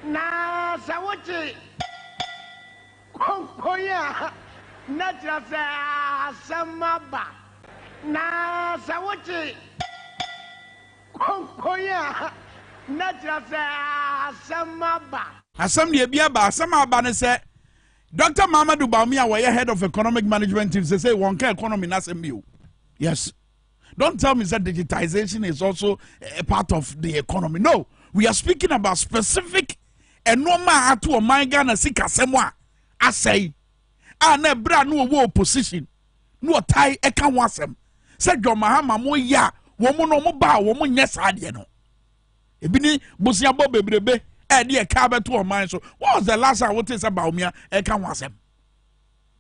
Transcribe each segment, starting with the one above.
Na sɛ wogye konkonn a, na kyerɛ sɛ asɛm aba. Na sɛ wogye konkonn a, na kyerɛ sɛ asɛm aba. Asɛm deɛ ebi aba. Asɛm a aba ne sɛ Doctor Mamadou Bawumia a wɔyɛ head of economic management team sesei wɔnka economy no asɛm bio. Yes. Don't tell me that digitization is also a part of the economy. No, we are speaking about specific ɛnoɔma a ato ɔman ghana sikasɛm a asɛe a na ɛberɛ a na wɔwɔ opposition na wɔtae ɛka ho asɛm sɛ john mahama mo yɛ a wɔn no wɔn ba a wɔn nyɛ saa adeɛ no ebi ne boseabɔ bebrebe a ɛde ɛka abɛto ɔman so what was the last time wote sɛ baomia ɛka ho asɛm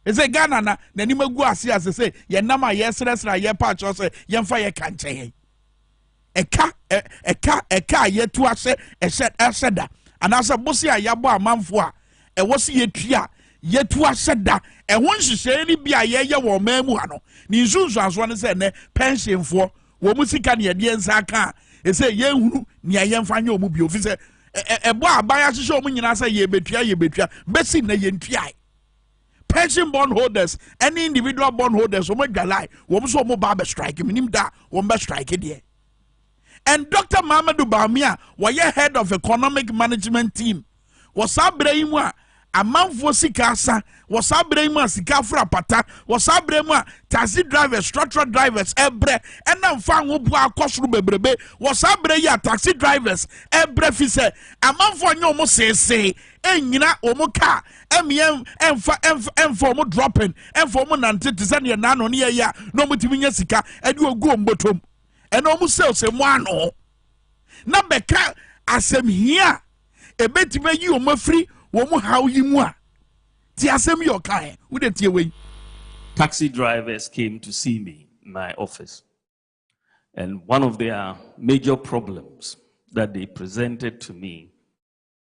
Ɛsɛ Ghana na n'anim agu ase a sese yɛn nam a yɛresrɛsrɛ a yɛrepa akyɛw sɛ yɛmfa yɛ ka nkyɛ yɛn. Ɛka ɛka ɛka a yɛatu ahyɛ ɛhyɛ ahyɛ da anaasɛ bose a yɛabɔ amanfo a ɛwɔ se yɛtua a yɛtu ahyɛ da ɛho nhyehyɛeɛ no bi a yɛyɛ wɔ ɔman mu ha no ne nsunsuansoɔ no sɛ nnɛ pɛnhyenfoɔ wɔn mu sika ne ɛdeɛ nsa aka a ɛsɛ yɛnhunu nea yɛmfa nyɛ wɔn bio fi sɛ ɛbɔ aban ahyehyɛ wɔn nyinaa sɛ yɛbɛtua yɛbɛtua bɛsi nnɛ yɛntuae Persian bond holders ɛne individual bond holders wɔn adwalae wɔn nso wɔn ba abɛ strike menim da wɔn bɛ strike deɛ and Dr. Mamadou Bawumia wɔyɛ head of economic management team wɔ saa abirɛ yi mu a amanfoɔ sika asa wɔ saa abirɛ yi mu a sika afra apata wɔ saa abirɛ mu a taxi drivers structural drivers ɛbrɛ ɛna nfa ahoboa akɔ soro bebrebe wɔ saa abirɛ yi a taxi drivers ɛbrɛ fi sɛ amanfoɔ nyɛ wɔn seesee nnyina wɔn kaa, mmea mfa mfa mfa wɔn dropping, mfa wɔn nante te sɛ neɛ naano ne yɛyɛ a na wɔtumi nya sika ɛde ogu wɔn bɔtɔm ɛna wɔn sales mu ano na bɛka asɛm hia a ɛbɛtumi ayi wɔn afiri wɔn haw yi mu a te asɛm yi ɔkae wode tie wei. Taxi drivers came to see me in my office and one of their major problems that they presented to me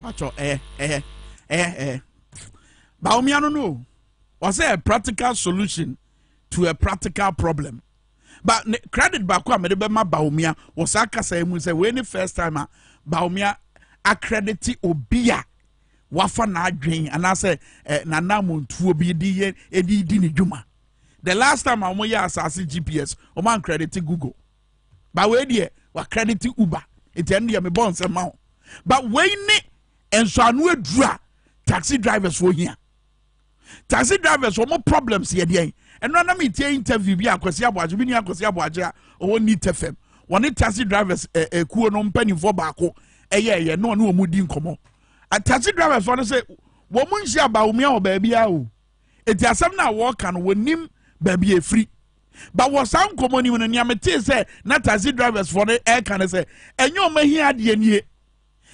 Pacho eh eh eh eh. Baumia no no. Was a practical solution to a practical problem. But ne, credit back wa mede bema Baumia was a kasa emu say when the first time a Baumia accredit obia wafa na adwen anaasɛ eh, nanamontuo bi di yɛ edi di ne dwuma the last time a wɔn yɛ asase gps wɔn ankredit google ba wei deɛ wa credit uber nti ɛno deɛ mebɔ nsɛm ma wo ba wei ne nsɔano aduru a taxi drivers wɔ hia taxi drivers wɔn problems yɛ deɛn ɛno anam etie interview bi akwasi aboagye bi ni akwasi aboagye a ɔwɔ ni tɛfɛm wɔne taxi drivers ɛɛ eh, ɛkuo eh, no mpanimfoɔ baako ɛyɛ ɛyɛ na ɔne wɔn di nkɔmɔ taxi drivers wɔn sɛ wɔn nhyia baawumia wɔ baabi a o eti asɛm na wɔɔka no wɔn nim baabi efiri. ba wɔ saa nkɔmmɔ no mu no nea metee sɛ na taxi drivers foɔ no ɛreka no sɛ ɛnyɛ ɔma hi adeɛ nie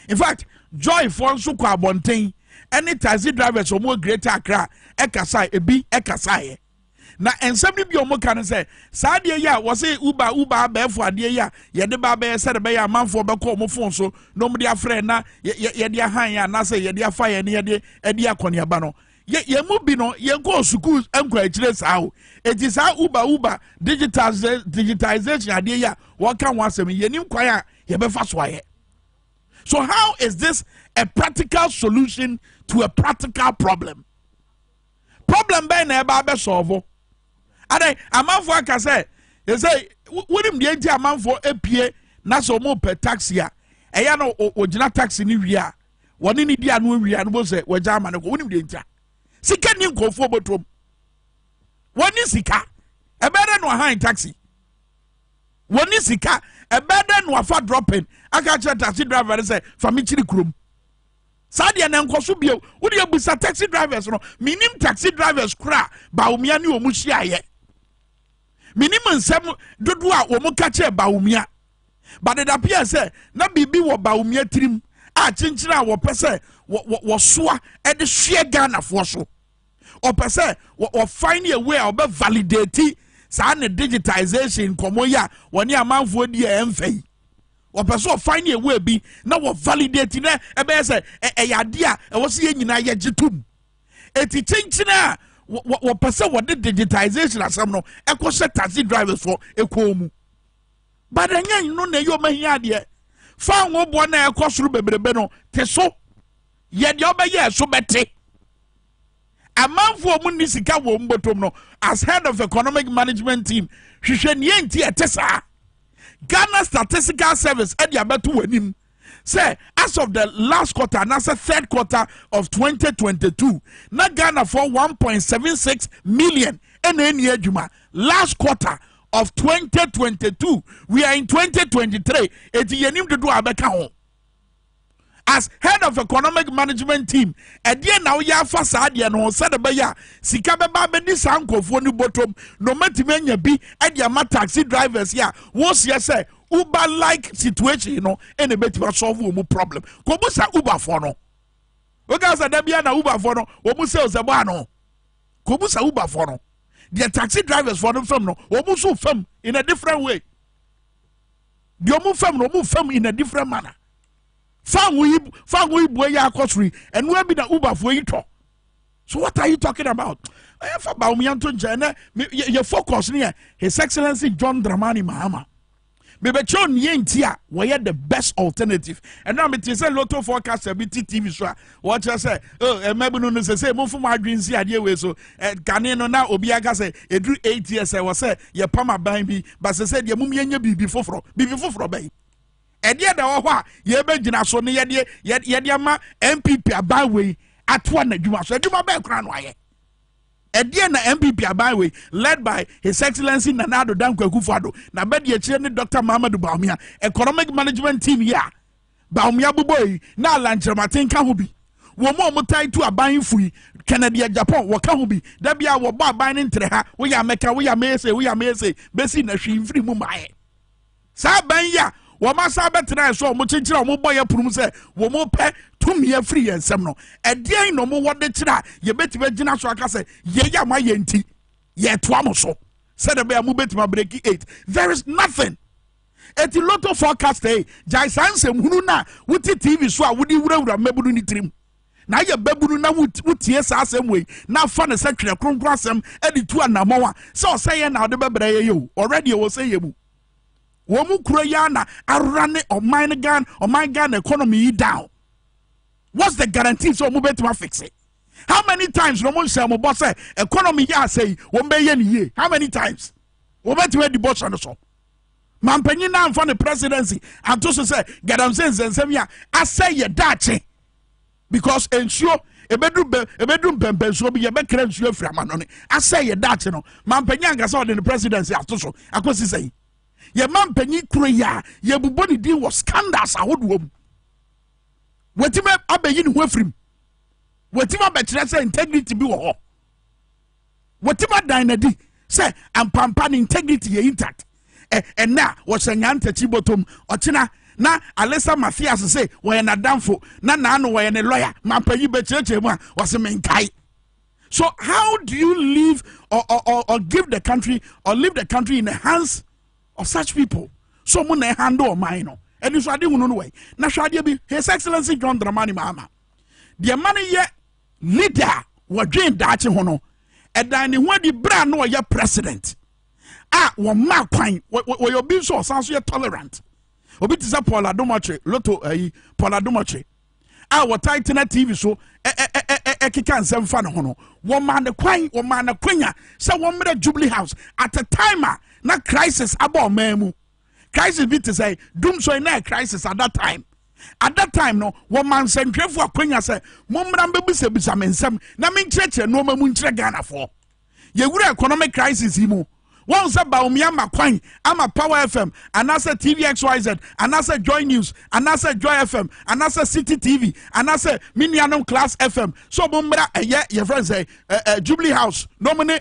in fact joy foɔ nso kɔ abɔnten ɛne taxi drivers wɔn wɔ greater accra ɛkasa ebi ɛkasaeɛ na nsɛm no bi a wɔka no sɛ saa adeɛ yi a wɔse uba uba abɛɛfo adeɛ yi a yɛde ba abɛyɛ sɛ de bɛyɛ amanfoɔ bɛkɔ wɔn fon so na wɔn de afrɛ na yɛde ahan yɛn anaasɛ yɛde afa yɛn ne yɛde ɛde akɔneaba no yɛn mu bi no yɛn kɔɔ sukuu nkɔ akyire saa o eti saa uber uber digitization adeɛ yi a wɔka ho asɛm yɛn nim kwan a yɛbɛfa so ayɛ so how is this a practical solution to a practical problem problem bɛn na ɛba abɛsɔɔvo adan amanfoɔ aka sɛ ɛsɛ wonim deɛ nti amanfoɔ apue na sɛ wɔn pɛ taxi a ɛyɛ no wɔgyina taxi no wie a wɔne ne di ano awie a no bɔ sɛ wɔagya ama no kɔ wonim deɛ ntia sika ni nkurɔfoɔ bɔtɔm wɔne sika ɛbɛyɛ dɛ na wahan taxi wɔne sika ɛbɛyɛ dɛ na wafa dropping aka kyerɛ taxi driver no sɛ fa me kyiri kurom saa deɛ na nkɔ so bio wode abisa taxi drivers no menim taxi drivers koraa baomia ne ɔmu hyiaeɛ menim nsɛm dodoɔ a wɔn ka kyerɛ baomia But it appears sɛ na biribi wɔ Bawumia tirim a kyenkyen a wɔpɛ sɛ wɔsoa de hweɛ Ghanafoɔ so. Ɔpɛ sɛ wɔfind a way a ɔbɛ validate saa ne digitization nkɔmmɔ yi a wɔne amanfoɔ di a ɛmfa yi. Ɔpɛ sɛ ɔfind a way bi na wɔ validate na ɛbɛyɛ sɛ ɛyɛ adeɛ a ɛwɔ sɛ yɛn nyinaa yɛgye tom. Eti kyenkyen a wɔpɛ sɛ wɔde digitization asɛm no ɛkɔhyɛ taxi drivers fo kɔn mu. But ɛnyɛ no na ɛyɛ ɔma hia adeɛ. Fa ahoboɔ na ɛkɔ soro bebrebe no te so. Yɛ deɛ ɔbɛyɛ ɛso bɛte. Amanfoɔ mu nni sika wɔ wɔn bɔtɔm no as head of economic management team hwehwɛ nea nti ɛte saa. Ghana Statistical Service ɛde abɛto w'anim. sɛ as of the last quarter anaasɛ third quarter of 2022 na ghanafoɔ 1.76 million ɛna ɛni adwuma last quarter of 2022 we are in 2023 eti yɛnim dodo a bɛka ho as head of economic management team ɛdeɛ na woyɛ afa saa deɛ no ho sɛde bɛyɛ a sika bɛba bɛdi saa nkurɔfoɔ no bɔtɔm na ɔmatumi anya bi ɛde ama taxi drivers yi a wɔrehyia sɛ Uber like situation no ɛna ɛbɛtumi asɔlve wɔn problem kɔbusa uberfoɔ no woka sɛ da bia na uberfoɔ no wɔn sales ɛbɔ ano kɔbusa uberfoɔ no deɛ taxi drivers foɔ no fam no wɔn nso fam in a different way deɛ wɔn fam no wɔn fam in a different manner fango yi fango yi bue yɛ akɔ soro yi ɛnua bi na uberfoɔ yi tɔ so what are you talking about ɛyɛ fa baomia nto nkyɛn ɛnɛ yɛ focus ne yɛ his excellency john dramani mahama mebɛkyerɛ ne yɛ nti a wɔyɛ the best alternative ɛna mete sɛ loto forecaster bi ti tv so a wɔkyerɛ sɛ oh, ɛma bi no no sɛ sɛ momfo mo adwene si adeɛ wei so kane no na obiara ka sɛ ɛduru 8 years ɛwɔ sɛ yɛpam aban bi ba sɛ sɛ deɛ mom yɛnyɛ biribi foforɔ biribi foforɔ bɛyi Ɛdeɛn na ɛwɔ hɔ a yɛbɛgyina so ne yɛde yɛde ama NPP aban wei atoa n'adwuma so? Adwuma bɛn koraa na wayɛ? ɛdeɛ na npp aban wei led by his excellency nana ado danko akufo-addo na bɛdi akyire ne dr mahamadu baumia economic management team yi a baumia bobɔ yi na alankyerɛmaten ka ho bi wɔn a wɔtae tu aban fo yi kennedy japan wɔka ho bi da bi a wɔbɔ aban no ntere ha woyɛ amɛka woyɛ amɛyɛ sɛ woyɛ amɛyɛ sɛ bɛsi na hwee mfiri mu maayɛ Saa abɛn yi a wɔasan bɛtenae so a wɔkyekyere a wɔbɔ yɛn pono mu sɛ wɔpɛ tumi afiri yɛn nsam no, ɛdeɛn na wɔwɔ de kyerɛ a yɛbɛtumi agyina so aka sɛ yɛyɛ ama yɛn nti yɛtoa mo so sɛdeɛ bɛyɛ a mobɛtumi abreki eight there is nothing eti lotto forecast yi eh, gyae saa nsɛm hunu na wote tv so a wode wurawura mmabunu ne tirim na ayɛ babunu na wotie saa asɛm wei na afa ne sɛ twerɛ kronkron asɛm de tu anammɔn a sɛ ɔsɛ yɛ na ɔde bɛbrɛ yɛ yɛ o ɔrɛdeɛ wɔ sɛ yɛ mu wɔn kuro yi ana awura ne ɔman no gan ɔman gan na economy yi down what's the guarantee sɛ wɔn bɛtuma fixe how many times na wɔn nhyɛn wɔn bɔ sɛ economy yɛ asɛ yi wɔn bɛyɛ ne yie how many times wɔn bɛtuma di bɔ hyɛ no so mampanyin na nfa ne presidency ato so sɛ gadanse nsɛnsɛm yi a asɛ yɛ daakye Because nsuo ebedu bɛ ebedu mpɛmpɛnsuo bi yɛbɛkra nsuo afiri amanɔne asɛ yɛ daakye no mampanyin ankasa ɔde ne presidency ato so akɔsi sɛn yɛ mampanyin kuro yi a yɛbobɔ ne din wɔ scandals ahodoɔ mu wɔtumi abɛyi ne ho afirim wɔtumi abɛkyerɛ sɛ integrity bi wɔ hɔ wɔtim adan no adi sɛ ampampa ne integrity yɛ intact ɛnɛ a wɔhyɛ nyaa ntakyi bɔtɔm ɔkyena na alisa mathias sɛ wɔyɛ n'adamfo na naano wɔyɛ ne lɔya mampanyi bɛkyerɛkyerɛ mu a wɔse menkae so how do you live or, or, or, or give the country or leave the country in the hands of such people so mo na ɛhandle ɔman no ɛni so ade hunu no wɔ na hwɛ adeɛ bi his excellency john dramani mahama deɛ ma no yɛ Leader a wɔdwen daakye ho no, ɛdaa ne ho adi bere a na ɔyɛ president a wɔmaa kwan. Wɔyɛ obi nso ɔsan so yɛ tolerant. Obi te sɛ Paul Adomɔkye, Loto ayi, eh, Paul Adomɔkye a wɔtae tena TV so ɛkeka nsɛm fa ne ho no, wɔmaa ne kwan, wɔmaa ne kwanya sɛ wɔmmrɛ Jubilee House at a time a na crisis abɔ ɔman mu. crisis bi te sɛ dum sɔe na crisis at that time at that time no wɔma nsɛntwerɛfoɔ akwanya sɛ mommra mbɛbisabisa me nsɛm na menkyerɛkyerɛ nnoɔma mu nkyerɛ ghanafoɔ yɛwura economic crisis yi mu wɔn sɛ baomi ama kwan ama power fm anaasɛ tvxyz anaasɛ joy news anaasɛ joy fm anaasɛ city tv anaasɛ me nuanom class fm so wɔn mmra ɛyɛ yɛfrɛ sɛ ɛɛ jubilee house na wɔn ne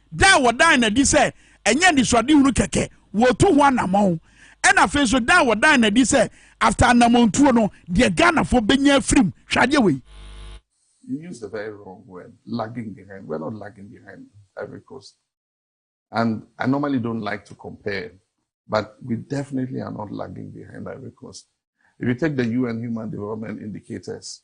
Da a wɔdaa no adi sɛ ɛnyɛ anisoadehunu kɛkɛ, wɔretu ho anammɔn, ɛna afei nso da a wɔdaa no adi sɛ after anammɔntuo no, deɛ Ghanafoɔ bɛnya afiri mu. Hwɛ adeɛ wei. You use the very wrong word, lagging behind. We're not lagging behind Ivory Coast. And I normally don't like to compare, but we definitely are not lagging behind Ivory Coast. If you take the UN Human Development Indicators,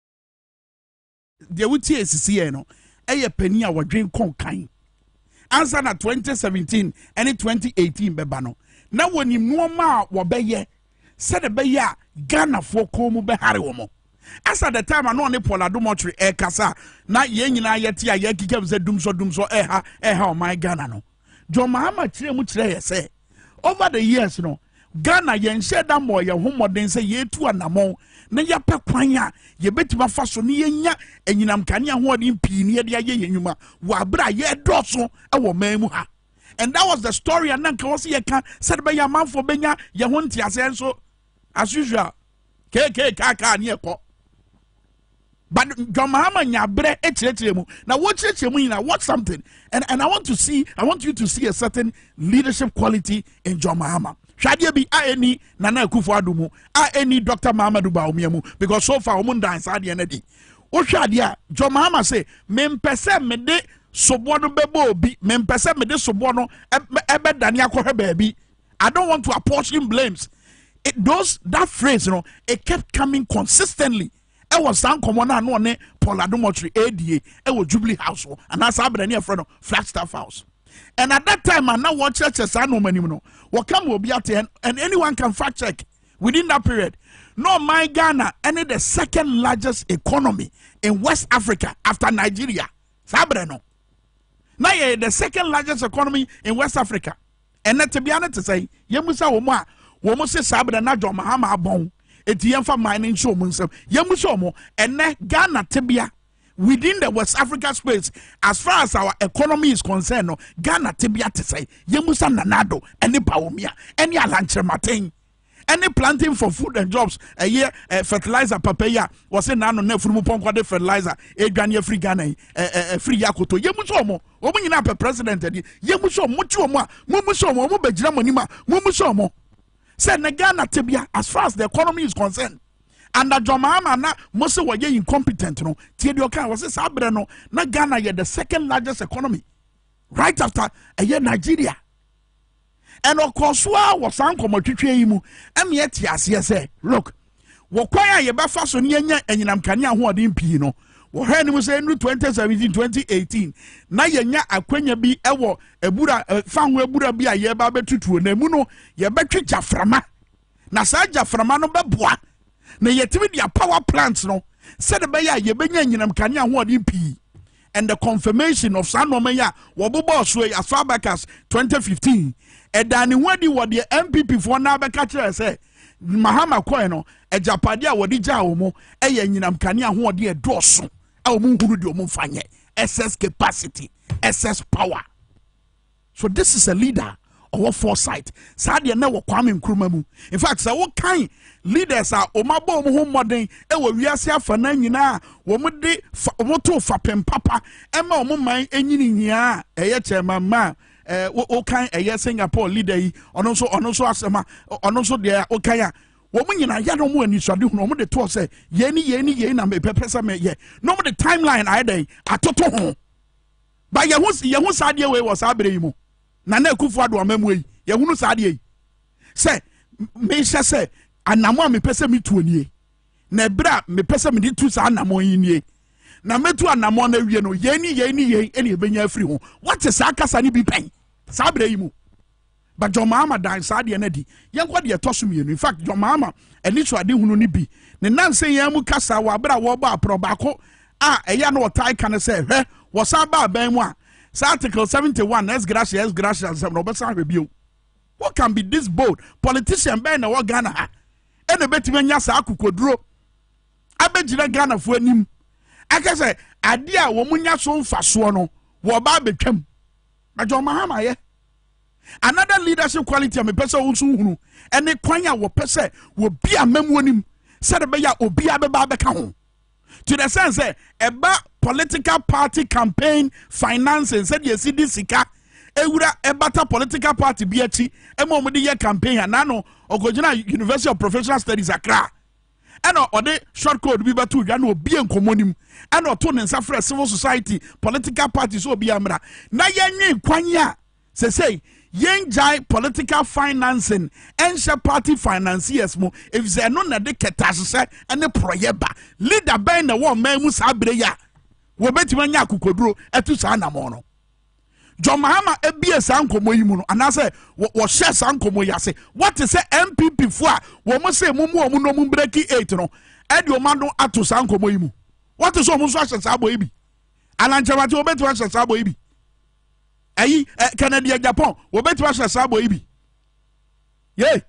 deɛ wotie esisi yɛ no ɛyɛ panyin a wɔdwen kɔn kan ansa na 2017 ɛne 2018 bɛba no na wɔnim nneɛma a wɔbɛyɛ sɛde bɛyɛ a ghanafoɔ kɔn mu bɛhare wɔn as at the time ano ne paul adomɔtwe ɛkasa na yɛn nyinaa yɛte a yɛkeka mu sɛ dumsɔ dumsɔ ɛha ɛha ɔman ghana no John Mahama kyerɛɛ mu kyerɛɛ yɛ sɛ, over the years no, Ghana yɛnhyɛɛ da mmɔɔ yɛn ho mmɔden sɛ yɛretu anammɔn na yɛapɛ kwan a yɛbɛtumi afa so na yɛnya anyinam kanea ahoɔden pii na yɛde ayɛ yɛn nnwuma wɔ abere a yɛredɔɔso wɔ man mu ha. And that was the story a na nka wɔ sɛ yɛka sɛde bɛyɛ amanfoɔ bɛnya yɛn ho nteaseɛ nso as usual keekee kaakaa ne ɛkɔ but John Mahama nyabrɛ ekyerɛkyerɛ mu na wɔkyerɛkyerɛ mu nyinaa watch something and and I want to see I want you to see a certain leadership quality in John Mahama hwadeɛ bi a ɛni Nana Akufo Addo mu a ɛni Dr Mahamadou Bawumia mu because so far wɔn dan saa adeɛ no adi wohwɛ adeɛ a John Mahama sɛ mempɛ sɛ mede soboɔ no bɛbɔ obi mempɛ sɛ mede soboɔ no ɛbɛdane akɔhwɛ baabi I don't want to apportion blames. It, those that phrase, you know, it kept coming consistently. I was saa nkɔmɔ no a no ɔne paul adomɔtwe ada ɛwɔ jubilee house hɔ anaasɛ abena ne ɛfrɛ no flagstaff house and at that time a na wɔkyerɛkyerɛ saa nneɛma anim no wɔka ma obi ate and anyone can fact check within that period no my ghana ɛne the second largest economy in west africa after nigeria saa abena no na yɛ the second largest economy in west africa Ɛnnɛ tebea no te sɛn? Yemmisa wɔn a wɔse saa bere na John Mahama abɔn enti yɛmfa man no nhyɛ wɔn nsam. Yemmisa wɔn. Ɛnnɛ Ghana tebea within the West Africa space as far as our economy is concerned no Ghana tebea te sɛn? Yemmisa Nana Addo ne Bawumia ne Alankyerematen. ɛne planting for food and jobs ɛyɛ ɛ fertilizer papa yi a wɔsɛ n'ano na afunumu pɔnkɔ de fertilizer edwane afiri ghana yi ɛ ɛ afiri yi akoto yɛ mu sɛ ɔmo ɔmo nyinaa pɛ president ɛdi yɛ mu sɛ ɔmo ti ɔmo a mo mu sɛ ɔmo ɔmo bɛ gyina mo anim a mo mu sɛ ɔmo sɛ ne ghana tebea as far as the economy is concerned anadwo maama na mo sɛ wɔyɛ incompetent no tie deɛ ɔka wɔsɛ saa berɛ no na ghana yɛ the second largest economy right after ɛyɛ nigeria And ɔkɔɔ so ara wɔ saa nkɔmmɔtwetweɛ yi mu ma yɛte aseɛ sɛ, look, wɔ kwan a yɛbɛfa so ne yɛnya anyinam kanea ahoɔden pii no, wɔ hɔ anim sɛ ɛnuru 2017 2018 na yɛnya akwanya bi wɔ abura fa ho abura bi a yɛreba abɛtutuo na emu no yɛbɛtwe gyaframa na saa gyaframa no bɛboa na yɛatumi de apower plant no sɛde bɛyɛ a yɛbɛnya anyinam kanea ahoɔden pii and the confirmation of saa nneɛma yi a wɔbobɔɔ so yi asɔ abacus 2015 ɛdaa ne ho adi wɔ deɛ npp foɔ naa bɛka kyerɛ sɛ mahama kɔɛ no agyapade a wɔde gyaa wɔn mo ɛyɛ anyinam kanea ahoɔden ɛdɔɔso a wɔn nhuru deɛ wɔn mfa nyɛ excess capacity excess power. So this is a leader a ɔwɔ foresight saa deɛ na wɔ Kwame Nkrumah mu. In fact sɛ wokan leaders a wɔn abɔ wɔn ho mmɔden wɔ wiase afa no nyinaa wɔn de fa wɔn to fapem papa ɛma wɔn man nyini nyinaa a ɛyɛ kyɛnma mmaa ɛɛ wokan ɛyɛ Singapore leader yi ɔno nso ɔno nso asɛm a ɔno nso deɛ wokan a wɔn nyinaa yɛ na wɔn anisade hunu wɔn de toɔ sɛ yei ne yei ne yei na mepɛpɛ sɛ meyɛ na wɔn de timeline ayɛ dɛn atoto ho. But yɛhu yɛhu saa adeɛ wei wɔ saa berɛ yi mu Nana Akufo Addo amammuo yi yɛhunu saa adeɛ yi sɛ mehyɛ sɛ anamo a mepɛ sɛ metuo nie na ɛberɛ a mepɛ sɛ mede tu saa anamo yi nie na mɛtu anamo no awie no yei ne yei ne yei ɛne ɛbɛnya afiri ho wate saa kasa no bi pɛn saa berɛ yi mu But John Mahama dan saa adeɛ no adi. Yɛnkɔ deɛ ɛtɔ so mmienu. In fact, John Mahama anisoadehunu no bi ne nansa yi ara mu kasa wɔ abere a wɔrebɔ aporɔ baako a ɛyɛ a na wɔtae ka no sɛ hwɛ wɔsan ba aban mu a saa article 71 ex gratia ex gratia nsɛm na wɔbɛsan ahwɛ bio. Who can be this bold? Politician bɛn na ɛwɔ Ghana ha ɛna ɛbɛtumi anya saa akokoduro abɛgyina Ghanafoɔ anim aka sɛ adeɛ a wɔn nya so mfasoɔ no wɔba abɛtwam. Na John Mahama yɛ Another leadership quality a mepɛ sɛ wo nso hunu ne kwan a wɔpɛ sɛ wɔbi amammuo nim sɛde bɛyɛ a obiara bɛba abɛka ho to the sense sɛ ɛba political party campaign financing sɛdeɛ ɛsi de sika ewura ɛbata political party bi akyi ɛma wɔn de yɛ campaign a nano ɔkɔgyina University of Professional Studies Accra ɛna ɔde short code bi bɛto dwa na obie nkɔmmɔ no mu ɛna ɔto ne nsa frɛ civil society political party sɛ obi amra na yɛnwe kwan a sɛsɛi yɛngyae political financing ɛnhyɛ party financiers mu efisɛ ɛno na ɛde kɛtɛ ahyehyɛ ɛne porɔyɛ ba leader bɛn na ɛwɔ ɔman mu saa bere yi a wɔbɛtumi anya akokoduro ɛto saa anamɔ no John Mahama bue saa nkɔmmɔ yi mu no anaasɛ wɔhyɛ saa nkɔmmɔ yi ase wɔte sɛ NPP fo a wɔn se mo mu wɔn nom breki eight no ɛde wɔn ano ato saa nkɔmmɔ yi mu wɔte sɛ wɔn nso ahyɛ saa bɔ yi bi anankyɛmate wɔbɛtumi ahyɛ saa bɔ yi bi ɛyi ɛ Kennedy Japan wɔbɛtumi ahyɛ saa bɔ yi bi. Yei,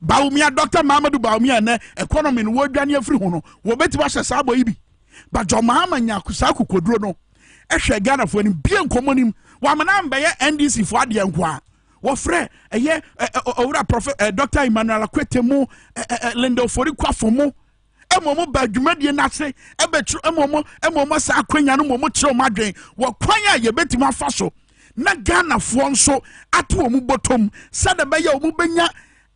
Bawumia, Dɔkta Mahamadou Bawumia, ɛnnɛ economy no wɔredwane afiri ho no, wɔbɛtumi ahyɛ saa bɔ yi bi. But John Mahama nya saa kokoduro no ɛhwɛ Ghanafoɔ anim bie nkɔmmɔ nim wɔamena mbɛyɛ NDC foɔ adeɛ nko a wɔfrɛ ɛyɛ owura prɔfɛ Dɔkta Emmanuel Akwete mu Linda Ofori Kwafo mu mmom ba dwumadie no ase bɛkyerɛ mmom mmom saa akwanya no mmom kyerɛ wɔn adwene wɔ kwan a yɛbɛtumi afa so na ghanafoɔ nso ato wɔn bɔtɔm sɛdeɛ ɛbɛyɛ wɔn bɛnya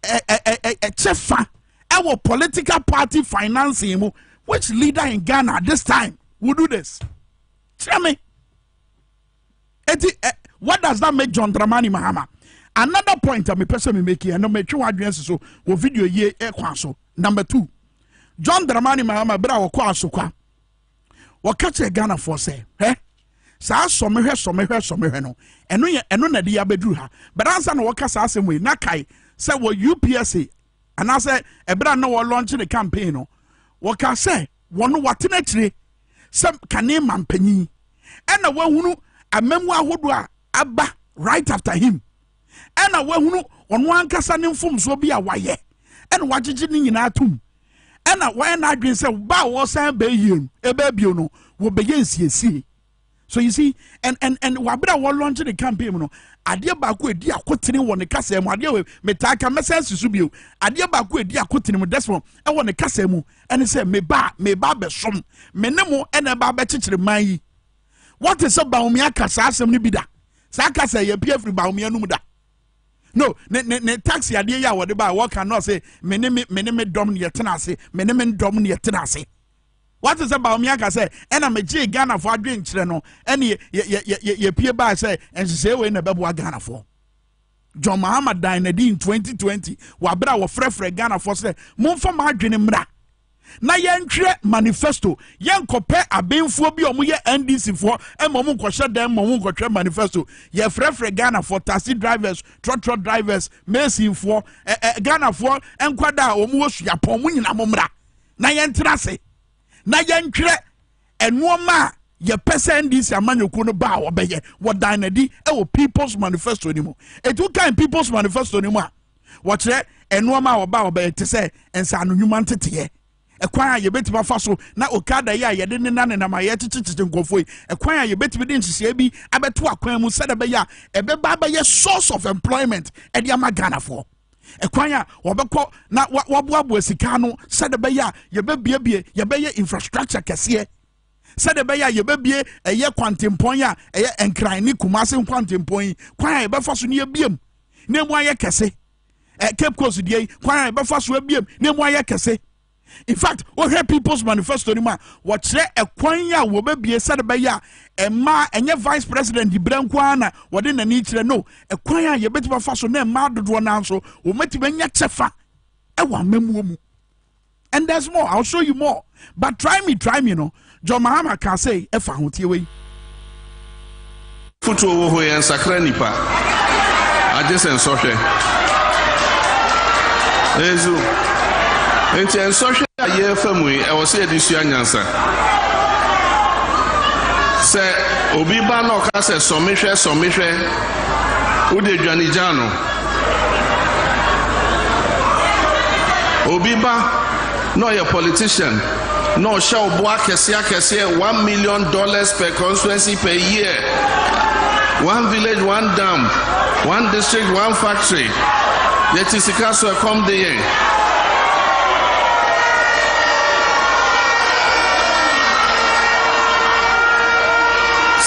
ɛkyɛ fa ɛwɔ political party financing mu which leader in ghana this time will do this kyerɛ me eti ɛ what does that make john dramani mahama another point a mepɛ sɛ memeki ɛno metwe ho adwene si so wɔ video yie ɛkwan so number two john dramani mahama berɛ a wɔkɔ asokwa wɔka kyerɛ ghanafoɔ sɛ hɛ saa sɔmehwɛ sɔmehwɛ sɔmehwɛ no ɛno yɛ ɛno na ɛde yɛ abɛduru ha bɛrɛ ansa na wɔka saa asɛm wei na kae sɛ wɔ upsa anaasɛ ɛberɛ a na wɔlɔnkye ne campaign no wɔka sɛ wɔn watena akyire sɛ kane ma mpanyin ɛna wahunu amamu ahodoɔ a aba right after him ɛna wahunu ɔno ankasa ne mfomsoɔ bi a wayɛ ɛna wagyegye ne nyinaa tom ɛna wɔyɛ n'adwene sɛ ba a wɔsan bɛyie no ɛbɛbio no wɔbɛyɛ nsiesie so you see and and and wabere a wɔlɔnkye ne campaign mu no adeɛ baako edi akotene wɔ ne kasa mu adeɛ wɔ metaa ka mɛsɛn si so bio adeɛ baako edi akotene mu desmond ɛwɔ ne kasa mu ɛne sɛ meba meba abɛsom me ne mo ɛna ɛba abɛkyekyere man yi wɔte sɛ baomia ka saa asɛm no bi da saa kasa yɛ pie firi baomia no mu da no ne ne ne taxi adeɛ yi a wɔde ba a wɔka no ɔse me ne me ne me dɔm ne yɛtena ase me ne me dɔm ne yɛtena ase. Wate sɛ Bawumia aka sɛ ɛna megyee Ghanafoɔ adwenkyerɛ no ɛne yɛpie baa sɛ nhyehyɛe wei na ɛbɛboa Ghanafoɔ. John Mahama dan no adi in 2020 wɔ abere a wɔfrɛfrɛ Ghanafoɔ sɛ momfa mo adwene mmra na yɛntwerɛ manifesto yɛnkɔpɛ abenfoɔ bi a wɔyɛ ndcfoɔ ma wɔn nkɔhyɛ dan ma wɔn nkɔtwerɛ manifesto yɛfrɛfrɛ ghanafoɔ taxi drivers trɔtrɔ drivers mesinfoɔ ɛɛ ghanafoɔ nkwadaa a wɔwɔ suapɔn mu nyinaa mo mmra na yɛntena ase na yɛntwerɛ nnoɔma a yɛpɛ sɛ ndc amanyɔkuo no baa wɔbɛyɛ wɔdan n'adi wɔ people's manifesto no mu ɛti wokan people's manifesto no mu a wɔkyerɛ nnoɔma a wɔbaa wɔbɛyɛ te sɛ nsaano nnwuma nteteɛ ɛkwan a yɛbɛtumi afa so na okada yi a yɛde nena nenam a yɛkyekyekye nkurɔfoɔ yi ɛkwan a yɛbɛtumi de nhyehyɛe bi abɛto akwan mu sɛdeɛ ɛbɛyɛ a ɛbɛba abɛyɛ source of employment ɛde ama ghanafoɔ ɛkwan a wɔbɛkɔ na wɔaboaboa sika no sɛde bɛyɛ a yɛbɛbiebie yɛbɛyɛ infrastructure kɛseɛ sɛde bɛyɛ a yɛbɛbie ɛyɛ kwantempɔn a ɛyɛ nkran ne kumase nkwantempɔn yi kwan a yɛbɛfa so ne yɛbiem na emu ayɛ kɛse cape coast deɛ yi kwan a yɛbɛfa so abiem na emu ayɛ kɛse in fact wohwɛ people's manifesto no mu a wɔkyerɛ ɛkwan yi a wɔbɛbie sɛde bɛyɛ a ɛmaa ɛnyɛ vice president berɛ nko ara na wɔde n'ani kyerɛ no ɛkwan a yɛbɛtumi afa so na ɛmaa dodoɔ no nso wɔmɛtumi anya kyɛfa ɛwɔ amamuo mu and there's more i'll show you more but try me try me no John Mahama kaa sei ɛfa ho, tie wei. Fotuo wɔ hɔ yi ɛnsakra nnipa, agye sɛ nsɔhwɛ. Ɛnso, nti nsɔhwɛ a yɛrefa mu yi, ɛwɔ sɛ yɛde sua nyansa. Sɛ obi ba na ɔka sɛ sɔmehwɛ sɔmehwɛ, wode dwane gya no. Obi ba na ɔyɛ politician na ɔhyɛ wo bo akɛseɛ akɛseɛ one million dollars per constituency per year one village one dam one district one factory yɛte sika so ɛkɔm de yɛn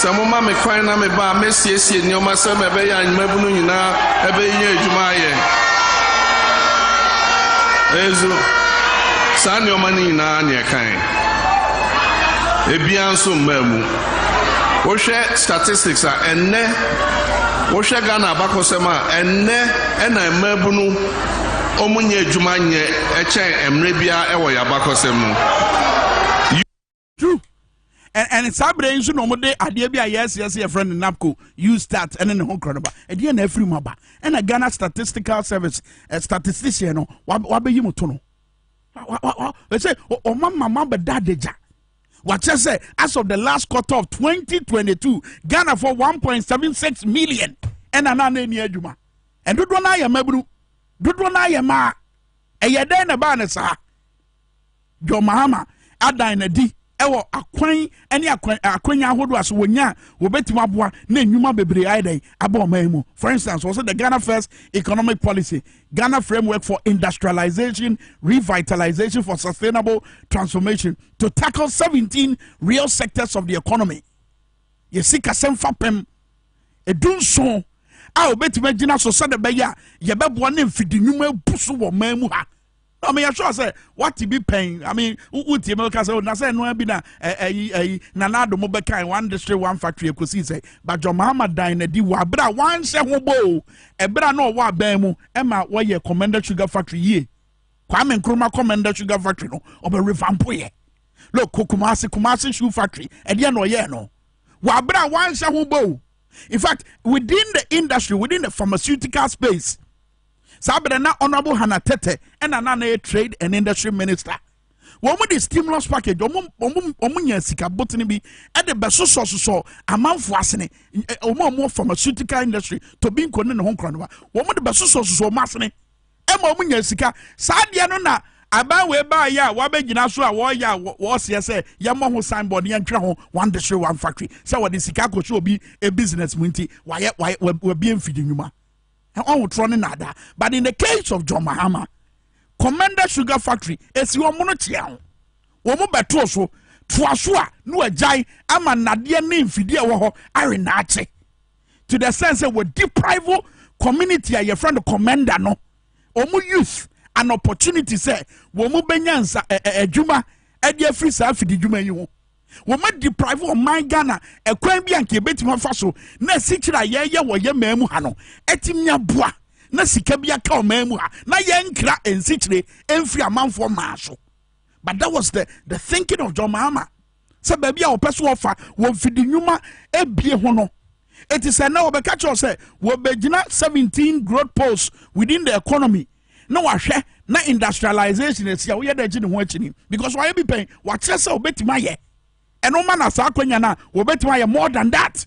sɛ moma me kwan na meba a mɛsiesie nneɛma sɛ mɛbɛyɛ anwumabunu nyinaa ɛbɛyɛ adwuma ayɛ ɛzu Saa nneɛma no nyinaa na ɛkae. Ebiara nso mmaa mu. Wohwɛ statistics a, ɛnnɛ, wohwɛ Ghana abakɔsɛm a, ɛnnɛ na mmaabunu wɔnyɛ adwuma nyɛ kyɛn mmerɛ biara wɔ yɛn abakɔsɛm mu. True. And, and saa berɛ yi nso na wɔde adeɛ bi a yɛasi ase yɛfrɛ no napco u start ɛne ne ho korɔ no ba ɛdeɛ na afiri mu aba ɛna ghana statistical service uh, statistician no wabɛyi mu to no ɛsɛ ɔma ma mabɛda adagya wakyɛ sɛ as of the last quarter of 2022 ghana for 1.76 million ɛna na na ɛni adwuma ɛdodoɔ no ayɛ mmabunu dodoɔ no ayɛ maa ɛyɛ dɛn na ɛbaa ne saa John Mahama adan no adi wɔ akwan ne akwanya ahodoɔ a so wɔnya a wɔbɛtumi aboa na nnwuma bebree ayɛ dɛn aba ɔman mu for instance wɔsɛ the ghana first economic policy ghana framework for industrialization revitalization for sustainable transformation to tackle 17 real sectors of the economy yɛsi kasɛm fa pɛm ɛdu nson a wɔbɛtumi agyina so sɛdeɛ ɛbɛyɛ a yɛbɛboa ne mfidi nnwuma abu so wɔ ɔman mu ha I mean, yɛhwɛ sɛ wate bi pɛn I mean, wotie me woka sɛ oh, na sɛ ɛnoa bi na ɛyi ɛyi na n'ado mo bɛkan one district one factory ɛkɔsii sɛ badwɔ mahama dan na di wɔ aberɛ a wanhyɛ ho boo ɛberɛ a na ɔwɔ abɛn mu ɛma wɔyɛ commander sugar factory yie kwame nkrumah commander sugar factory no ɔbɛ revampoyɛ look kumase kumase shoe factory ɛdeɛ na ɔyɛɛ no wɔ aberɛ a wanhyɛ ho boo in fact within the industry within the pharmaceutical space saa berɛ na honorable hannah tɛtɛ ɛna na anayɛ trade and industry minister wɔn de stimulus package wɔn wɔn wɔn nya sika botene bi ɛde bɛsosɔsosɔ amanfo asene wɔn a wɔn pharmaceutical industry tobinko ne ne ho nkorɔnoba wɔn de bɛsosɔsosɔ wɔn asene ɛma wɔn nya sika saa deɛ no na aban wei baayɛ a wɔabɛgyina so a wɔreyɛ a wɔreseɛ sɛ yɛmmɔ ho signboard yɛntwerɛ ho one district one factory sɛ wɔde sika akɔhyɛ obi e business mu nti wayɛ wabie mfidi nnwuma Ɔhotorɔ ne naadaa but in the case of John Mahama, Commenda Sugar Factory esi wɔn no kyea ho. Wɔn bɛtoo so, toa so a na wɔagyae ama nnadeɛ ne mfidie a ɛwɔ hɔ awe naakye to the sense sɛ wɔ deprive community a yɛfrɛ no Commenda no wɔn youth an opportunity sɛ wɔn bɛnya nsa adwuma ɛde afiri saa afididwuma yi ho. wɔma deprive ɔman ghana ɛkwan bi a nka yɛbɛtumi afa so na asikyerɛ a yɛyɛ wɔ yɛ maa mu ha no ɛtumi aboa na sika bi aka ɔman mu ha na yɛnkra nsikyire ɛmfiri amanfoɔ maa so but that was the, the thinking of john mahama sɛ baabi a wɔpɛ so wɔfa wɔn fidi nnwuma ebie ho no ɛti sɛ na wɔbɛka kyerɛw sɛ wɔbɛgyina 17 growth poles within the economy na wahwɛ na industrialization asi a woyɛ dɛ gye ne ho akyini because wayɛ bi pɛn wakyerɛ sɛ wobɛtumi ayɛ ɛno ma na saa akwanya no a wɔbɛtumi ayɛ more than that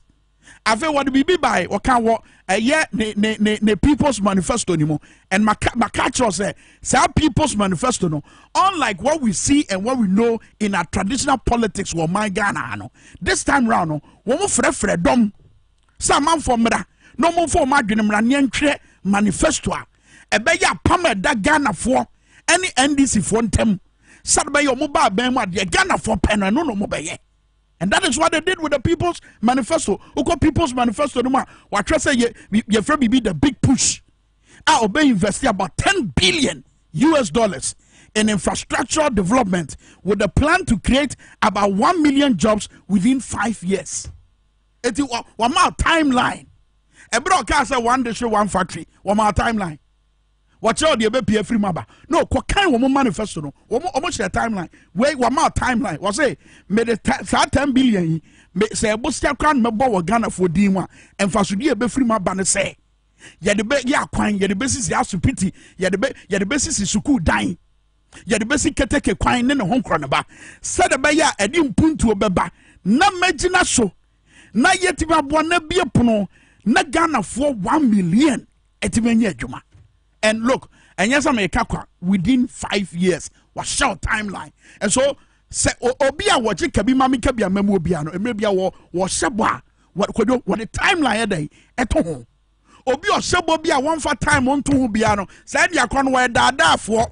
afei wɔde biribi bae wɔka wɔ ɛyɛ ne ne ne ne people's manifesto ni mu and maka maka kyerɛ sɛ saa people's manifesto no unlike what we see and what we know in our traditional politics wɔ man ghana ha no this time round no wɔn frɛfrɛ dɔm sɛ amanfoɔ mmra na wɔmfa wɔn adwene mmra ne ɛntwerɛ manifesto a ɛbɛyɛ apam a ɛda Ghanafoɔ ne NDCfoɔ ntam sɛde bɛyɛ wɔn ba abɛn mu adeɛ Ghanafoɔ pɛ no ɛno na wɔn bɛyɛ and that is what they did with the people's manifesto wokɔ people's manifesto no mu a wɔatwerɛ sɛ yɛ yɛfrɛ biribi the big push a ɔbɛ invest about ten billion US dollars in infrastructural development with the plan to create about one million jobs within five years. eti wɔmaa timeline ɛberɛ a ɔkaa sɛ one district one factory wɔmaa timeline wɔkyerɛ ɔde ɛbɛpie afiri mu aba na ɔkɔkan wɔn manifesto no wɔn wɔn hyɛ timeline wei wɔmaa timeline wɔsɛ mede ta saa ten billion yi me sɛ ɛbosia kora no mɛbɔ wɔ ghanafoɔ din mu a mfasodeɛ ɛbɛfiri mu aba no sɛ yɛde bɛ yɛ akwan yɛde bɛsisi asopiti yɛde bɛ yɛde bɛsisi sukuu dan yɛde bɛsi keteke kwan ne ne ho nkorɔnoba sɛdeɛ ɛbɛyɛ a ɛde mpuntuo bɛba na mɛgyina so na yɛtumi aboa na bie pono na ghanafoɔ one million ɛtumi anya adwuma and look ɛnyɛ sɛ meka kwa within five years wahyɛ timeline and so sɛ obi a wɔgye kabi ma meka bi ama mu obiara no mmerɛ bia wɔhyɛ bɔ a wɔde timeline ɛdɛn ɛto ho obi ɔhyɛ bɔ bi a wɔmfa time nto ho biara no saa ndia korɔ no wɔyɛ daadaafoɔ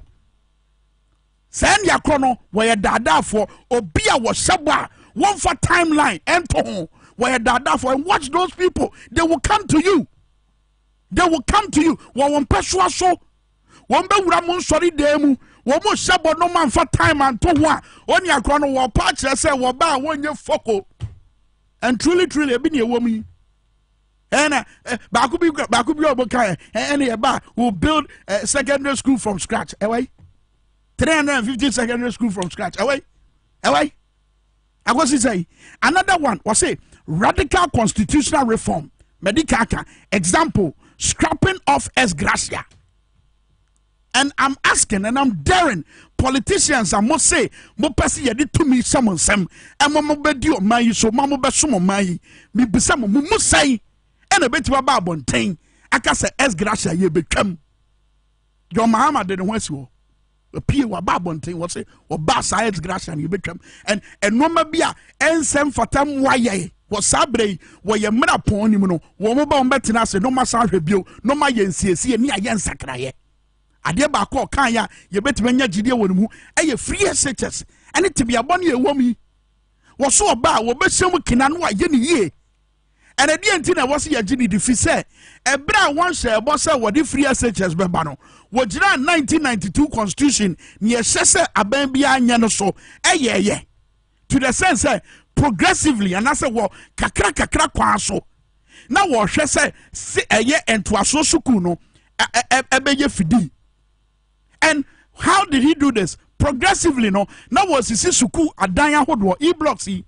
saa ndia korɔ no wɔyɛ daadaafoɔ obi a wɔhyɛ bɔ a wɔmfa timeline nto ho wɔyɛ daadaafoɔ and watch those people they will come to you they will come to you wɔ wɔn mpɛsoa so wɔn bɛwura mo nsɔre dan mu wɔn mo hyɛ bɔ no ma nfa time anto ho a wɔn akora no wɔpa akyerɛ sɛ wɔba a wɔnyɛ fɔko and truly truly ebi na ɛwɔ mu yi ɛna eh, baako bi baako bi a wɔn ka yɛ eh, ɛna yɛ ba will build eh, secondary school from scratch ɛwɔ yi three hundred and fifty secondary school from scratch ɛwɔ yi ɛwɔ yi akosi sɛ yi another one wɔsi radical constitutional reform mɛdi kaka example scrapping off ex gratia And I'm asking and I'm daring politicians a mo se mo pɛ sɛ yɛde tumi hyɛ mo nsam ɛma mo bɛdi ɔman yi so ma mo bɛsom ɔman yi mebisa mo mo mu sɛn ɛna ɛbɛtumi aba abɔnten aka sɛ s gracia yɛbɛtwam john mahama de ne ho asi hɔ pie waba abɔnten wɔ se wɔba saa s gracia no yɛbɛtwam and ɛnnoɔma bi a ɛnsɛ mfata mmoa yɛe Wɔ saa berɛ yi, wɔ yɛn mmara pɔn no mu no, wɔn ba wɔn bɛtena ase na wɔn asan ahwɛ bio na wɔn ayɛ nsiesie ne ayɛ nsakraeɛ. Adeɛ baako a ɔkaeɛ a yɛbɛtumi anya gyidie wɔ ne mu yɛ free SHS ne tebea bɔne a ɛwɔ mu yi. Wɔso ɔba a wɔbɛhyɛ mu kena na wɔayɛ ne yie. Ɛnna deɛ nti na ɛwɔ sɛ yɛgye ne di fi sɛ ɛberɛ a wɔnhyɛ ɛbɔ sɛ wɔde free SHS bɛba no, wɔgyinaa 1992 constitution ne ɛhyɛ sɛ aban biara nyɛ no so ɛyɛɛyɛ. to the sense sɛ progressively anaasɛ wɔ kakra kakra kwan so na wɔhwɛ sɛ se ɛyɛ ntoasoɔ sukuu no ɛbɛyɛ fidii and how did he do this progressively no na wɔsisi sukuu adan ahodoɔ e blocks yi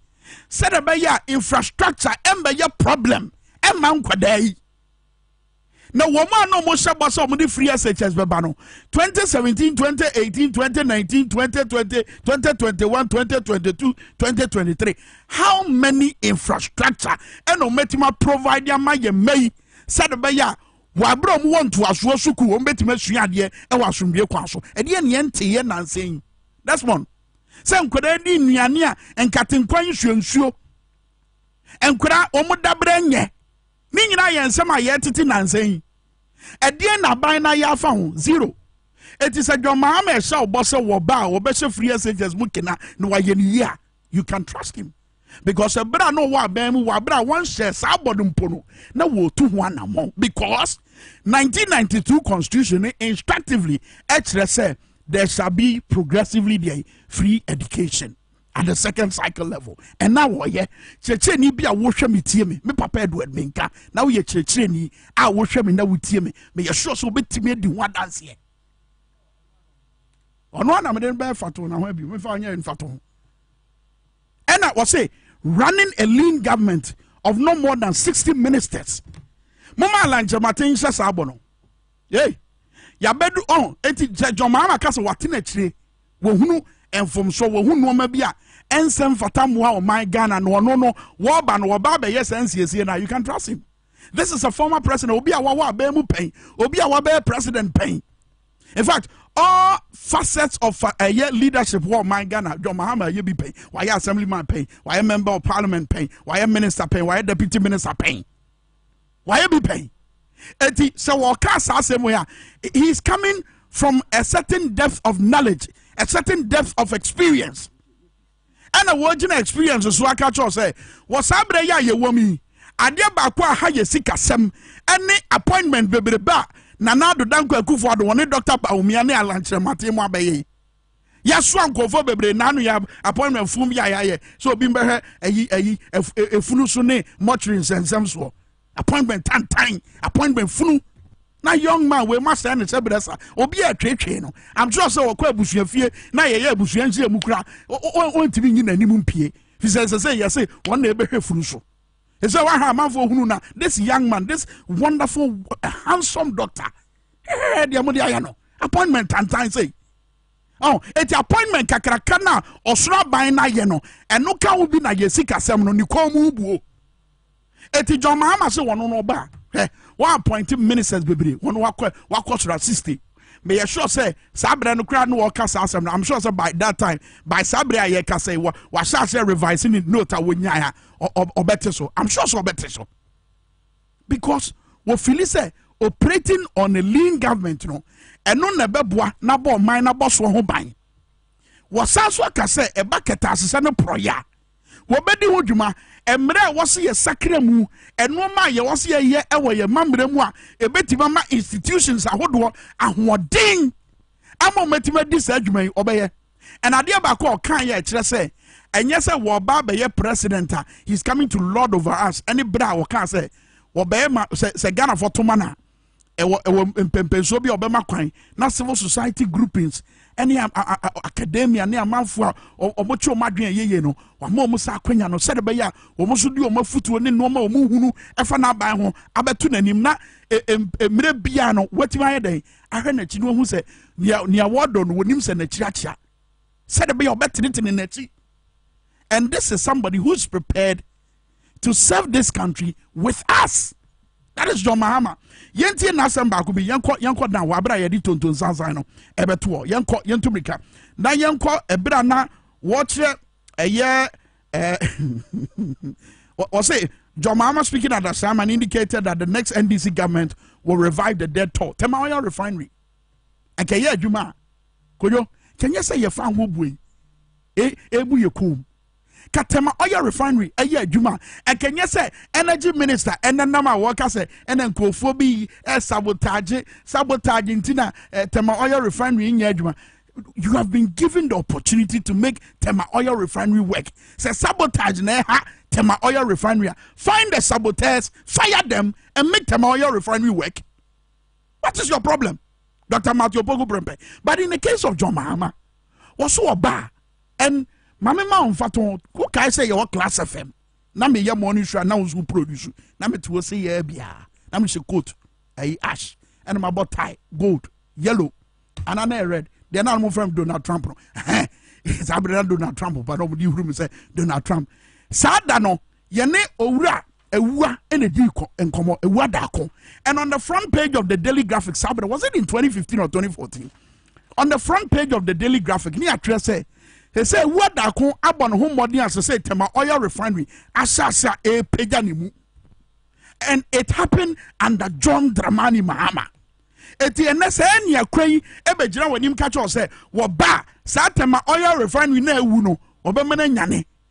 sɛdeɛ ɛbɛyɛ a infrastructure ɛmbɛyɛ problem ɛma nkwadaa yi Na wɔn a na wɔhyɛ bɔ sɛ wɔde free SHS bɛba no, 2017, 2018, 2019, 2020, 2021, 2022, 2023, how many infrastructure ɛna wɔatumi aprovide ama yɛn mma yi sɛde bɛyɛ a wɔabrɛ wɔn wɔ ntoasoɔ sukuu wɔn bɛtumi asua adeɛ ɛwɔ asomdwie kwan so ɛdeɛ neɛ nteeɛ nansa yi desmond sɛ nkwadaa di nnuane a nkatenkwan nsuonsuo nkwadaa wɔn dabrɛ nyɛ Ne nyinaa yɛ nsɛm a yɛretete nnansa yi. Ɛdeɛn na aban no ayɛ afa ho? Zero. Eti sɛ John Mahama ɛhyɛ ɔbɔ sɛ wɔ ba a wɔbɛhyɛ free SHS mu kena na wɔayɛ no yie a, you can trust him. Because ɛberɛ a na ɔwɔ aban mu wɔ aberɛ a wɔnhyɛɛ saa bɔ no mpo no, na wɔretu ho anammɔn. Because 1992 constitution no instructively ɛkyerɛ sɛ there shall be progressively deɛ free education. at the second cycle level ɛna wɔyɛ kyerɛkyerɛni bi a wohwɛ me tie me me papa edward menka na woyɛ kyerɛkyerɛni a wohwɛ me na wotie me meyɛ sure sɛ wobɛtumi adi ho adanseɛ ɔno ana mede no bɛyɛ fato na ho abi mefa ɔnyɛ mfato ho ɛna wɔse running a lean government of no more than 60 ministers moma alankyɛmaten nhyɛ saa bɔ no Ei! Yɛabɛdu ɔn! Enti Sɛ John Mahama ka sɛ wɔatena akyire, wɔhunu mfomsoɔ, wɔhu nnoɔma bi a ɛnsɛ mfata mmoa ɔman Ghana na ɔno no wɔba no wɔba abɛyɛ saa nsiesie no a, you can trust him. This is a former president, obi a wawɔ abɛn mu pɛn, obi a wabɛyɛ president pɛn. In fact, all facets of uh, ɛyɛ leadership wɔ ɔman Ghana, John Mahama yɛ bi pɛn, wayɛ assemblyman pɛn, wayɛ member of parliament pɛn, wayɛ minister pɛn, wayɛ deputy minister pɛn. Wayɛ bi pɛn. Enti sɛ wɔka saa asɛm wei a, he is coming from a certain depth of knowledge, a certain depth of experience. ɛna wɔgyina experience so aka kyerɛw sɛ wɔ saa berɛ yi a yɛwɔ mu yi adeɛ baako a ha yɛ sikasɛm ɛne appointment bebrebe a nana adodan kwakufoɔ ado wɔne dɔkta baomia ne alankyerɛmate mu abɛyɛ yɛasoa nkurɔfoɔ bebree na ano yɛ appointment fom bi a yɛayɛ sɛ obi mbɛhwɛ ayi ayi efunu so ne mɔtiri nsɛnsɛm soɔ appointment tantan appointment funu na young man wei ma sɛ ne sɛ brɛ sa obi a twetwe no i'm sure sɛ wɔkɔ abusua fie na yɛyɛ abusua nhyia mu kura wɔntumi nyi n'anim mpie fi sɛ sɛ sɛ yɛse wɔn na ɛbɛhwɛ funu so He said, Waha amanfo ohunu na this young man, this wonderful, uh, handsome doctor. Hey, deɛ mo de ayɛ no appointment tantan sei. Oh, eti appointment kakraka na ɔsoro aban na ayɛ no ɛno ka wo bi na yɛ sikasɛm no ne kɔn mu buo. Eti John Mahama se wɔn no ba hɛ wɔn appoint ministers bebree wɔn wakɔ wakɔ soro sixty. meyɛ sure sɛ saa berɛ no koraa na wɔka saa asɛm no i'm sure sɛ by that time by saa berɛ a yɛka sɛ wɔ wahyɛ aseɛ revise ne note a wɔnyae a ɔbɛte so i'm sure sɛ ɔbɛte so because wɔfili sɛ operating on a lean government no ɛno na ɛbɛboa n'abɔ ɔman n'abɔ soɔ ho ban wɔsan so aka sɛ ɛba kɛtɛ asesɛ no porɔyɛ a Wɔbɛdi ho dwuma. Mmara a ɛwɔ sɛ yɛsakra mu, nnoɔma a yɛwɔ sɛ yɛyɛ wɔ yɛn mammara mu a ɛbɛtumi ama institutions ahodoɔ ahoɔden ama wɔatumi adi saa adwuma yi, ɔbɛyɛ. Ɛna adeɛ baako a ɔkaeɛ a ɛkyerɛ sɛ ɛnyɛ sɛ wɔba abɛyɛ president a he's coming to lord over us ɛne berɛ a wɔkaa sɛ wɔbɛyɛ ma sɛ sɛ Ghanafoɔ to ma no a ɛwɔ ɛwɔ mpɛmpɛnsoɔ bi a ɔbɛma kwan na civil society groupings ɛne academia ne amanfoɔ a wɔkye wɔn adwene yeye no wɔama wɔn saa akwanya no sɛde bɛyɛ a wɔn nso de wɔn afutuo ne nneɛma wɔn hunu ɛfa n'aban ho abɛto n'anim na mmerɛ biara no wɔatumi ayɛ dɛn ahwɛ n'akyi no wɔhu sɛ nea nea wɔdɔ no wɔnim sɛ n'akyi akyea sɛde bɛyɛ ɔbɛtenetene n'akyi and this is somebody who is prepared to serve this country with us that is john mahama yɛntie n'asɛm baako bi yɛnkɔ yɛnkɔ dan wɔ abira yɛde tonton sansan no ɛbɛtoɔ yɛnkɔ yɛntu mirika na yɛnkɔ ɛbira na wɔkyerɛ ɛyɛ ɛɛ wɔsɛ john mahama speaking at asam and indicated that the next ndc government will revive the dead toll tema oil refinery ɛkɛyɛ adwuma a koyo kɛnyɛ sɛ yɛfa ho bue ebu yɛ kum. kata ma ɔyɛ refinery ɛyɛ adwuma a ɛka nyɛ sɛ energy minister ɛnenam a wɔka sɛ ɛna nkurɔfoɔ bi ɛsabotage sabotage nti na eh, tɛma ɔyɛ refinery nyɛ adwuma you have been given the opportunity to make Tema Oil Refinery work. Say sabotage neha Tema Oil Refinery. Find the saboteurs, fire them, and make Tema Oil Refinery work. What is your problem, Dr. Matthew Pogo Brempe? But in the case of John Mahama, also a bar. and maame ma ɔnfa to wo kae sɛ yɛwɔ class fm na meyɛ morning show a na wo nso produce na mete wo se yɛ biara na mehyɛ coat ɛyi ash ɛna mabɔ tie gold yellow anaa na yɛ red deɛ na mo fɛm donald trump no saa bere na donald trump ba na ɔmo de huru mi sɛ donald trump saa da no yɛne owura Awuah ɛna di nkɔmɔ Awuah Darko and on the front page of the Daily Graphic saa bɛrɛ was it in 2015 or 2014 on the front page of the Daily Graphic ne atwerɛ sɛ ɛsɛ Awuah Darko abɔ ne ho mmɔden a sɛ sɛ Tema Oil Refinery ahyɛ ase a ɛrepagya ne mu and it happened under John Dramani Mahama eti ɛnɛ sɛ ɛne akwa yi ɛbɛgyina wɔn anim ka kyerɛ sɛ wɔba saa Tema Oil Refinery na awu no wɔbɛma no anyane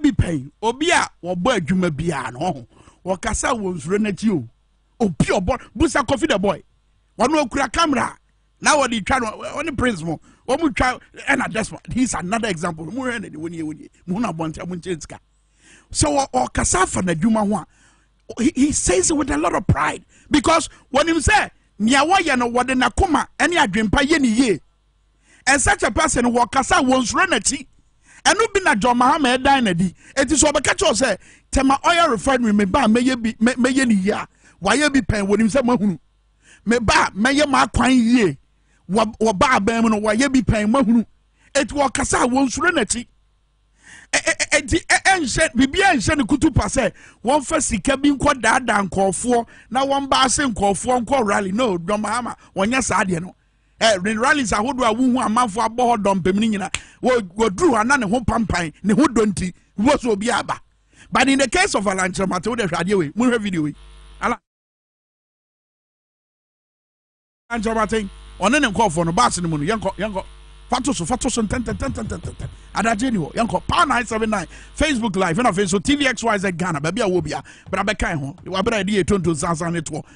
bi pɛn obi a wɔbɔ adwuma biara no ɔho wɔkasa wɔ nsuro n'akyi o obi ɔbɔ busa kofi the boy wɔn okura camera na wɔde twa no ɔne prince mo wɔn twa ɛna desma he is another example mo hwɛ na de wɔn yɛ wɔn yɛ mo na abɔnten mo nkyɛn sika so wɔ ɔkasa afa n'adwuma ho a he he says it with a lot of pride because wɔnim sɛ nea wɔyɛ no wɔde n'akoma ɛne adwempa yɛ ne yie. and such a person wɔ kasa wɔn soro n'akyi ɛno bi na John Mahama ɛdan na di eti sɛ ɔbɛka kyɛw sɛ tɛma oil refinery me ba mɛyɛ bi mɛyɛ ne yie a wayɛ bi pɛn wɔnim sɛ mahunu me ba mɛyɛ m'akwan yie wɔ ba abɛn mu no wayɛ bi pɛn mahunu eti wɔ kasa wɔn soro n'akyi eti ɛnhyɛ biribi ɛnhyɛ ne kutu pa sɛ wɔn fɛ sika bi nkɔ daadaa nkɔɔfoɔ na wɔn ba ase nkɔɔfoɔ nkɔ rally no John Mahama wɔnyɛ saa deɛ no ɛ ne rallies ahodoɔ a wohu amanfoɔ abɔ hɔ dɔmpem no nyina wɔduru hɔ ana ne ho pampan ne ho dɔ nti wɔ so obi aba but in the case of alankyerɛmate wode hwɛ adeɛ wei monhwɛ video wei alankyerɛmate ɔne ne nkɔɔfoɔ no baase no mu no yɛnkɔ yɛnkɔ fato so fato so ntɛntɛntɛntɛntɛntɛ adagye ni hɔ yɛnkɔ power nine seven nine facebook live ɛna afei nso tvxyz ghana baabi a wɔ bia bra bɛkan ho wabrɛ ɛde yɛ tonton sansan ne toɔ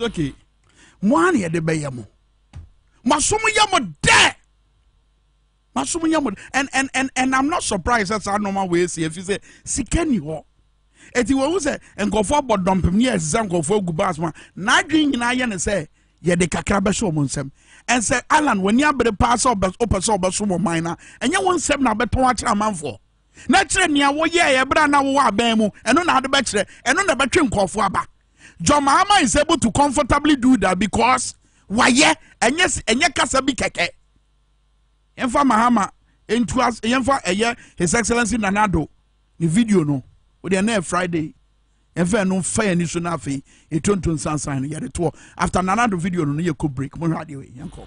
okay mo ara na yɛde bɛyɛ mo masom yɛ mo dɛ masom yɛ mo and and and and i'm not surprised sɛ saa nneɛma wɔ esi efi sɛ sika ni hɔ eti wɔn sɛ nkɔfoɔ abɔ dɔmpem ne yɛsɛ sɛ nkɔfoɔ agu baas mu a n'adwene nyinaa yɛ ne sɛ yɛde kakra bɛhyɛ wɔn nsam ɛnsɛ alan wɔn ani abere paa sɛ ɔpɛ sɛ ɔbɛso wɔn man na ɛnyɛ wɔn nsam na abɛtɔn akyerɛ amanfoɔ na kyerɛ nea wɔyɛ ɛyɛ bere a na wɔwɔ abɛn mu ɛno na ade bɛkyerɛ ɛno na ɛbɛtwe nkɔfoɔ aba. John Mahama is able to comfortably do that because wayɛ ɛnyɛ ɛnyɛ kasa bi kɛkɛ yɛnfa Mahama ntu as yɛnfa ɛyɛ his excellence Nana Addo ne video no o deɛ na Friday yɛnfa ɛno nfa yɛn ani so na afei yɛtonto nsansan no yɛde toɔ after Nana Addo video no no yɛ kɔ break mo hwɛ adeɛ wei yɛn kɔ.